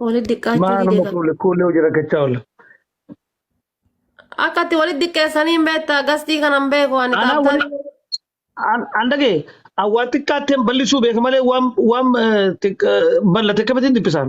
Walitti dhiqaachuu Maa nama didee kuule kuulee hojii rakkachaa oola. akka itti walitti dhiqeessanii hin beektaa gastii kana hin beeku ani Anaa kaaptaa wali an an dhagee an waan xiqqaatteen bal'isuu beeka malee waan waan eh, xiqq- eh, bal'ate akkamitti hin dhiphisaan.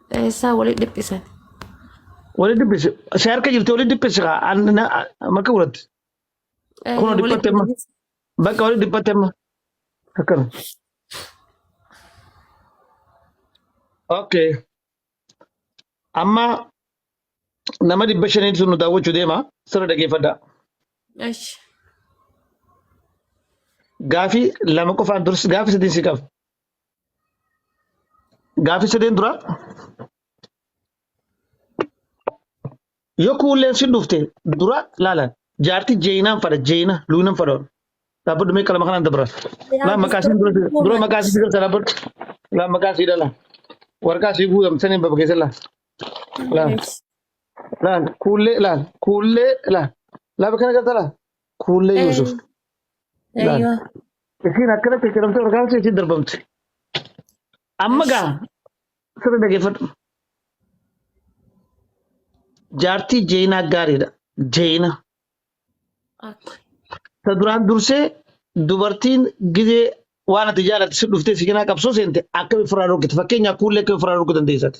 Eessaa waliin dhiphisan? Wali dhiphisi. Si harka jirti wali dhiphisi kaa. An na makka godhatti. Eh, Kunoo waliin dhiphatte amma. dhiphisan. Bakka wali dhiphatte amma. Akkana. Okay. Amma nama dhibba shanii sun nu daawwachuu deema. Sirra dhageeffadhaa. Esh. Gaafii lama qofaan dursi gaafii sadiin si qaba. Gaaffii sadeen dura yoo kuulleen si dhufte dura laalan jaartii jeeyinaan fadha jeeyina luuyinan fadha dhaabbadhu mee qalama kanaan dabra laa maqaa siin dura dura maqaa sii galta dhaabbadhu laa maqaa sii dhala warqaa sii guutam saniin baba keessa laa laa laa kuullee laa kuullee laa laa bakka kana galta laa Kuullee Eh, Yuusuf. Laal. Eeyyoo. Isiin akkana cicciramtee ol kaatee itti darbamte. Amma Esh. gaa sirri dhaggeeffadhu. Jaartii Jeenaa gaariidha. Jeena. Okay. Ta duraan dursee dubartiin gizee waan ati jaalatte si dhuftee si cinaa qabsoo seente akkami ofirraa dhorkite. Fakkeenyaaf kuullee akkami ofirraa dhorkuu dandeessati.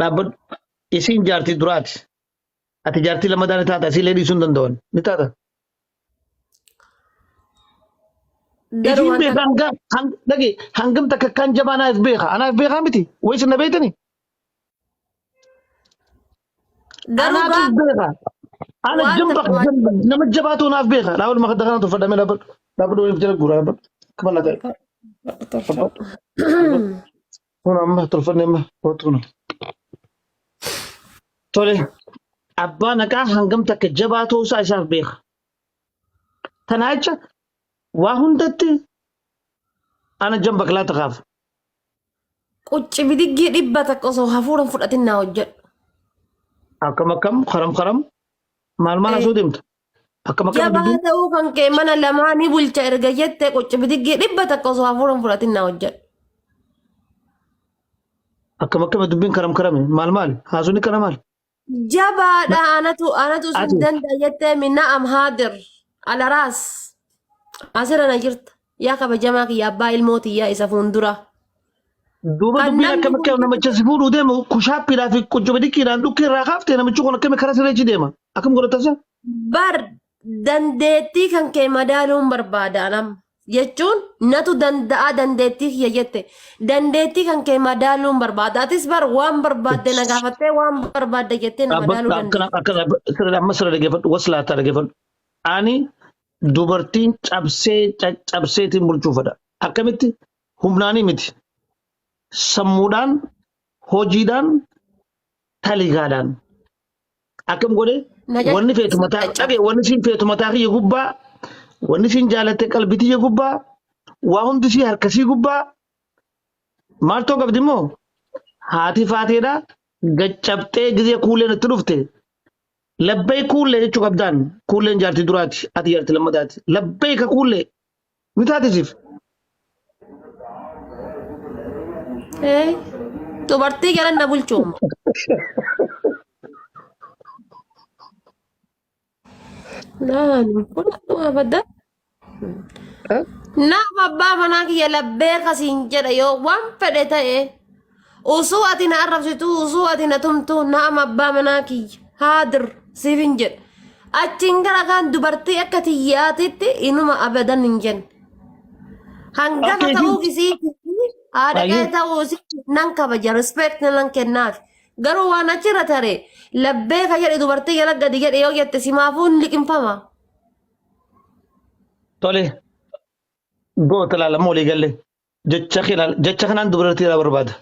Dhaabbadhu. Isiin jaartii duraati. Ati jaartii lammataa ni taata. Isii illee dhiisuu hin danda'an. Ni taata. Garuu Isiin wanta beeka hangam hang- dhage hangam takka akkaan jabaa anaaf beeka. Anaaf beekaa miti. Wayis na beektani. Garuu Anaatu gaa beeka. Ana waan jabba takka waan jabba nama jabaatu naaf beeka. Dhaabadhu makadda kana tuffadhame dhaabadhu. Dhaabadhu waliif jala guura dhaabadhu. Akka bal'aa ta'e tolfadhu dhaabadhu. tolfadhu. Dhaabadhu. Kun amma tolfanne amma kootu kun. Tole abbaa naqaa hangam takka jabaa ta'uu isaa isaaf beeka. Kanaa jecha waa hundatti ana jabba kilaa takaaf. Qucci bidiggii dhibba takka osoo hafuuran fudhatin naa hojjedhu. Akkam akkam karam karam maal maal asuu deemta? Akkam akkam Jabaa dubbiin? ta'uu kan kee mana lamaa ni bulcha erga jette qucci bidiggii dhibba takka osoo hafuuran fudhatin naa hojjedhu. Akkam akkam dubbiin karam karame maal maal haasuun kana maal? Jabaadha anatu anatu sun Ati. danda'a jettee minna amhaadir alaraas asirra na jirta yaa kabajamaa kiyya abbaa ilmoo tiyyaa isa fuuldura. Duuba Kan dubbiin namni akkam akka kun- namicha si fuudhuu deemu kushaappiidhaa fi quncubidikkiidhaan dhukkee irraa kaaftee namichi kun akkami karaa sirreechi deema. Akkam godhatasa? Bar dandeettii kan kee madaaluun barbaada anam jechuun natu danda'a dandeettii kiyya jette dandeettii kan kee madaaluun barbaada atis bar waan barbaadde na gaafattee waan barbaadde jettee na madaaluu dandeessa. Akkana sirrii amma sirrii dhaggeeffadhu waslaataa dhaggeeffadhu. Ani dubartiin cabsee caccabseetiin bulchuufadha. Akkamitti humnaanii miti. Sammuudhaan, hojiidhaan, taligaadhaan. Akkam godhee Na jechuu wanni feetu mataa jecha. dhagee wanni siin feetu mataa kiyya gubbaa wanni siin jaalatte qalbii tiyya gubbaa waa hundi sii harkasii gubbaa maaltoo qabdi immoo haati faateedha gaccabxee gizee kuulleen itti dhufte labbay kuullee jechuu qabdaan kuulleen jaartii duraati ati jaartii lammataati labbay ka kuullee Ni taate siif. Ee, Dubartii galan na bulchuuma. Naan fudhadhu abadda. Naaf abbaa manaa kiyya labbee kasiin jedha yoo waan fedhe ta'e. Usuu ati na arrabsitu, usuu ati na tumtu, naam abbaa manaa kiyya. Haadir siif hin jedhu. Achiin gara kaan dubartii akka tiyyaatitti inuma abadan hin jennu. Hangafa Akka ta'uu isin- isiitii haadha Ayyuu. qe'ee ta'uu isiitii nan kabaja respect nan kennaaf. Garuu waan achirra tare labbee ka jedhe dubartii jala gadi jedhe yoo jette simaafuu hin liqimfama. Tole. Goota ilaalamu walii galle. jecha keenan- jecha kanaan dubartii irraa barbaada.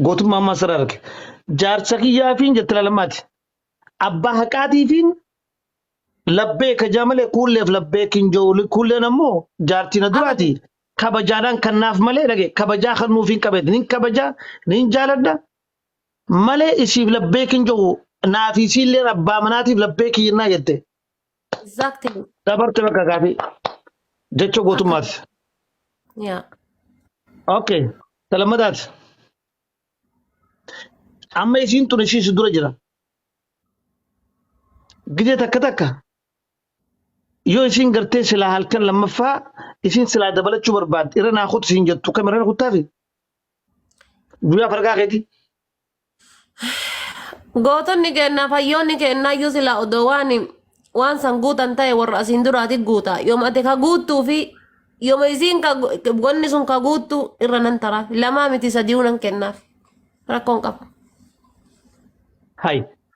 Gootummaa ammaa sirraa arge. Jaarsa kiyyaafiin jette laalammaati. Abbaa haqaatiifiin labbee kajaa malee kuulleef labbee kinjooli kuulleen ammoo jaartii na duraati. Kabajaadhaan kan naaf malee dhage kabajaa kan nuuf hin qabeetti. Nin kabajaa nin jaaladha malee isiif labbee kinjoo naaf isiillee abbaa manaatiif labbee kiyyannaa jette. Exactly. Dabarte bakka kaati. Jecha Akka gootummaati. yaa Okay. Talammadaati. Amma isiin tun ishii si dura jira. Gidee takka takka yoo isiin gartee silaa halkan lammaffaa isiin silaa dabalachuu barbaadde irra naa kutu siin jettu kam irra kuttaafi guyyaa farqaa keeti. Gootonni keenya fayyoonni keenya iyyuu sila odoo waan waan san guutan ta'e warra asiin duraati guuta. Yooma ati ka guuttuu fi yooma isiin ka wanni sun ka guuttu irra nan taraaf. Lamaa miti sadii'uu nan kennaaf. Rakkoon qaba. Hay.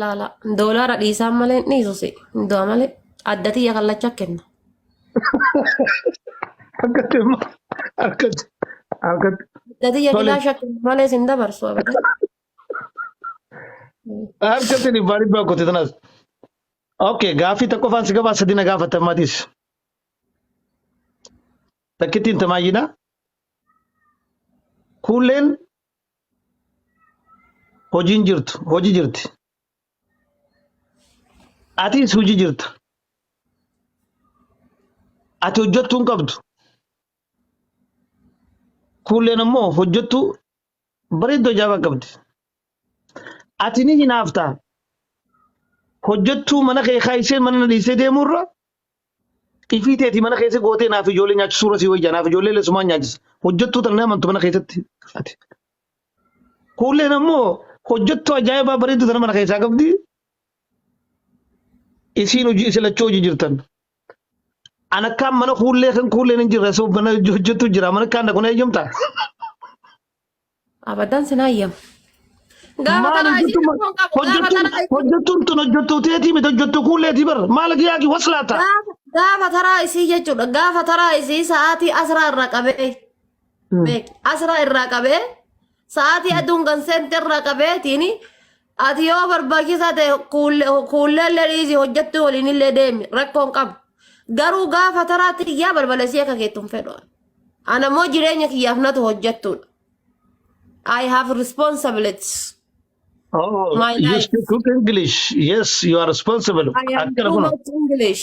Laala doolaara dhiisaan malee hin dhiisu si hin du'a malee adda tiyya kallacha kenna. Akka deema. Akka akka Adda tiyya Tole. kilaasha kenna malee sin dabarsu abada. harka tini baari baa kote tanas. Okay gaafii tokko faan si gabaa sadi na gaafatan matis. Takkittiin tamaayyidha. Kuulleen Hojiin jirtu hoji jirti. Atis hoji jirta. Ati hojjettuu hin qabdu. Kuulleen ammoo hojjettuu bareedduu ajaa'ibaa qabdi. Ati ni hinaafta. Hojjettuu mana kee kaayisee mana na dhiisee deemuurra Ifii teeti mana keessa gootee naaf ijoollee nyaachisuu irra sii wayya naaf ijoollee illee sumaan nyaachisa. Hojjettuu tan nama mantu mana keessatti ati. Kuulleen ammoo hojjettuu ajaa'ibaa bareedduu tana mana keessaa qabdi. Isiin hojii isin lachuu hojii jirtan. An akkaan mana kuullee kan kuulleen hin jirre asoo mana hojjettuu jira mana akkaan dhaqu na eeyyamtaa? Abadan sin hayyam. Gaafa Maal tanaa isii hojjettuu rakkoon qabu gaafa hojjettuun tanaa isii hojjettuun tun hojjettuu teetii miti hojjettuu kuulleetii bar maal giyaagi waslaata. gaafa gaafa taraa isii jechuudha gaafa taraa isii sa'aatii asraa irraa qabee beeki asraa irraa qabee sa'aatii aduun ganseente irraa qabeetiin Ati yoo barbaachisaa ta'e kuulleellee dhiisii hojjettuu waliinillee deemi rakkoon qabu. Garuu gaafa taraatti kiyyaa balbalesii akka keettu hin fedhu. Ana immoo jireenya kiyyaaf natu hojjettuudha. I have responsibilities. Oh, My you life. speak good English. Yes, you are responsible. I am Akkana too kun much English.